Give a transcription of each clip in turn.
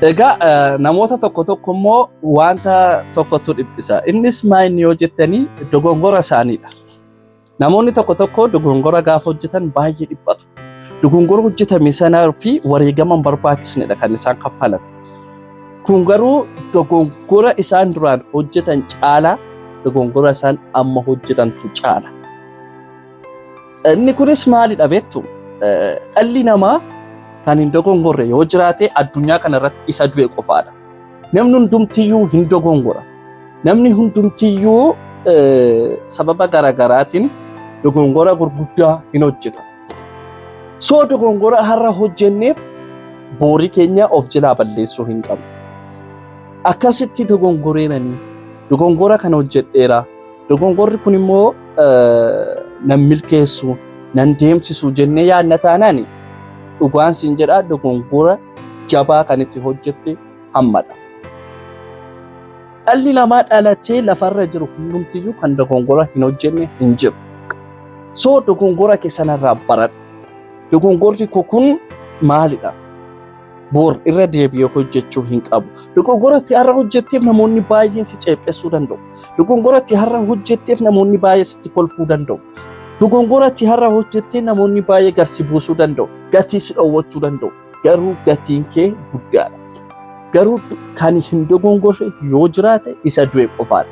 Egaa namoota tokko tokko immoo wanta tokkotu dhiphisa. Innis maa inni yoo jettanii dogongora isaaniidha. Namoonni tokko tokko dogongora gaafa hojjetan baay'ee dhiphatu. Dogongora hojjetame sanaa fi wareegama hin barbaachisnedha kan isaan kaffalan. Kun garuu dogongora isaan duraan hojjetan caalaa dogongora isaan amma hojjetantu caala. Inni kunis maalidha beektu? Dhalli namaa kan hin dogongorre yoo jiraate addunyaa kana irratti isa du'e qofaadha. Namni hundumtiyyuu hin dogongora. Namni hundumtiyyuu sababa garaagaraatiin dogongora gurguddaa hin hojjetu. Soo dogongora har'a hojjenneef boorii keenya of jalaa balleessuu hin qabnu. Akkasitti dogongoreenanii dogongora kana hojjedheera Dogongorri kun immoo nan milkeessu nan deemsisu jennee yaadna taanaan dhugaan siin jedhaa dogongora jabaa kan itti hojjette hammadha. Dhalli namaa dhalatee lafarra jiru hundumtiyyuu kan dogongora hin hojjenne hin jiru. So dogongora kee sanarraa baradhu. Dogongorri koo kun maalidha? boor irra deebi'ee hojjechuu hin qabu. Dogongoratti har'a hojjetteef namoonni baay'een si ceephessuu danda'u. Dogongoratti har'a hojjetteef namoonni baay'ee sitti kolfuu danda'u. Dogongoratti har'a hojjettee namoonni baay'ee garsi buusuu danda'u. Gatii si dhoowwachuu danda'u. Garuu gatiin kee guddaadha. Garuu kan hin dogongorre yoo jiraate isa du'e qofaadha.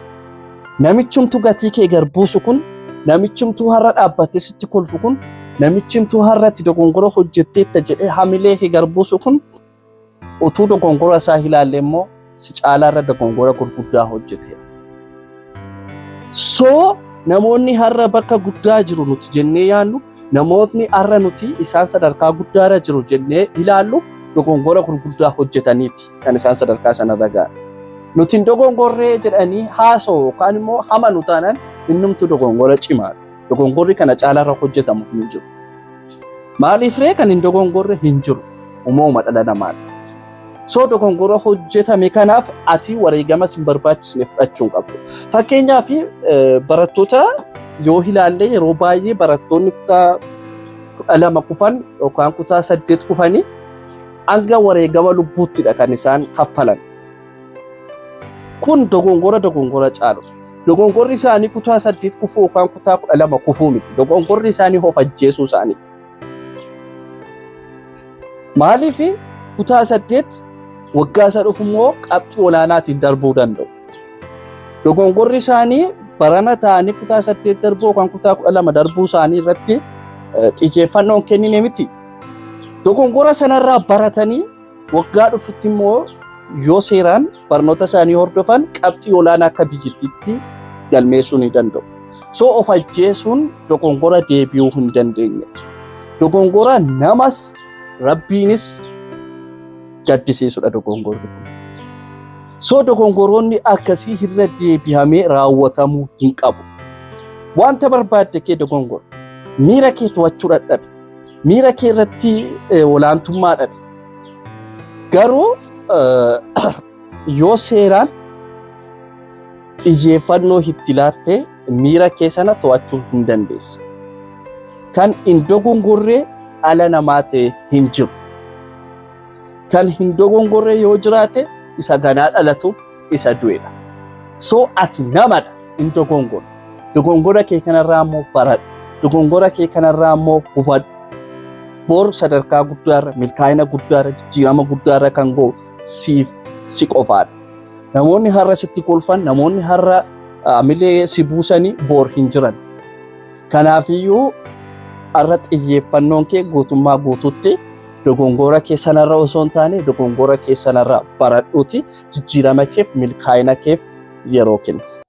Namichumtu gatii kee gar buusu kun, namichumtuu har'a dhaabbattee sitti kolfu kun, namichumtuu har'a itti dogongora hojjetteetta jedhee hamilee kee gar buusu kun utuu dogongora isaa ilaalle immoo si caalaa irra dogongora gurguddaa hojjete. Soo namoonni har'a bakka guddaa jiru nuti jennee yaannu Namootni har'a nuti isaan sadarkaa guddaa irra jiru jennee ilaallu dogongora gurguddaa hojjetaniiti kan isaan sadarkaa sana irra ga'an. Nuti hin dogongorree jedhanii haasoo yookaan immoo hamanu taanaan innumtu dogongora cimaadha. Dogongorri kana caalaa irra hojjetamu hin jiru. Maaliif ree kan hin dogongorre hin jiru. Uumama dhala namaadha. Soo dogongora hojjetame kanaaf ati wareegama sin barbaachisne fudhachuu hin qabdu. Fakkeenyaaf barattoota yoo ilaalle yeroo baay'ee barattoonni kutaa kudha lama kufan yookaan kutaa saddeet kufanii hanga wareegama lubbuuttidha kan isaan kaffalan. Kun dogongora dogongora caalu. Dogongorri isaanii kutaa saddeet kufuu yookaan kutaa kudha lama kufuu miti. Dogongorri isaanii of ajjeesuu isaanii. Maaliif kutaa saddeet waggaa isa dhufu immoo qabxii olaanaatiin darbuu danda'u. Dogongorri isaanii barana ta'anii kutaa saddeet darbuu yookaan kutaa kudha lama darbuu isaanii irratti xiyyeeffannoon kennine miti. Dogongora sanarraa baratanii waggaa dhufutti immoo yoo seeraan barnoota isaanii hordofan qabxii olaanaa akka biyyattiitti galmeessuu ni danda'u. So of ajjeesuun dogongora deebi'uu hin dandeenye. Dogongora namas rabbiinis gaddisiisudha dogongorri kun. So dogongoroonni akkasii irra deebi'amee raawwatamuu hin qabu. Wanta barbaadde kee dogongora. Miira kee to'achuu dadhabe. miira kee irratti olaantummaa dhabe. Garuu yoo seeraan xiyyeeffannoo itti laattee miira kee sana to'achuu hin dandeessa. Kan hin dogongorree ala namaa ta'e hin jiru. Kan hin dogongorree yoo jiraate isa ganaa dhalatuuf isa du'edha. So ati namadha hin dogongortu. Dogongora kee kanarraa immoo baradhu. Dogongora kee kanarraa immoo hubadhu. Bor sadarkaa guddaarra, milkaa'ina guddaarra, jijjiirama guddaarra kan ga'u siif si qofaadha. Namoonni har'a sitti kolfan, namoonni har'a milee si buusanii bor hin jiran. Kanaafiyyuu har'a xiyyeeffannoon kee guutummaa guutuutti Dogongoora kee sanarra osoo hin taane dogongoora kee sanarra baradhuuti jijjiirama keef milkaa'ina keef yeroo kenni.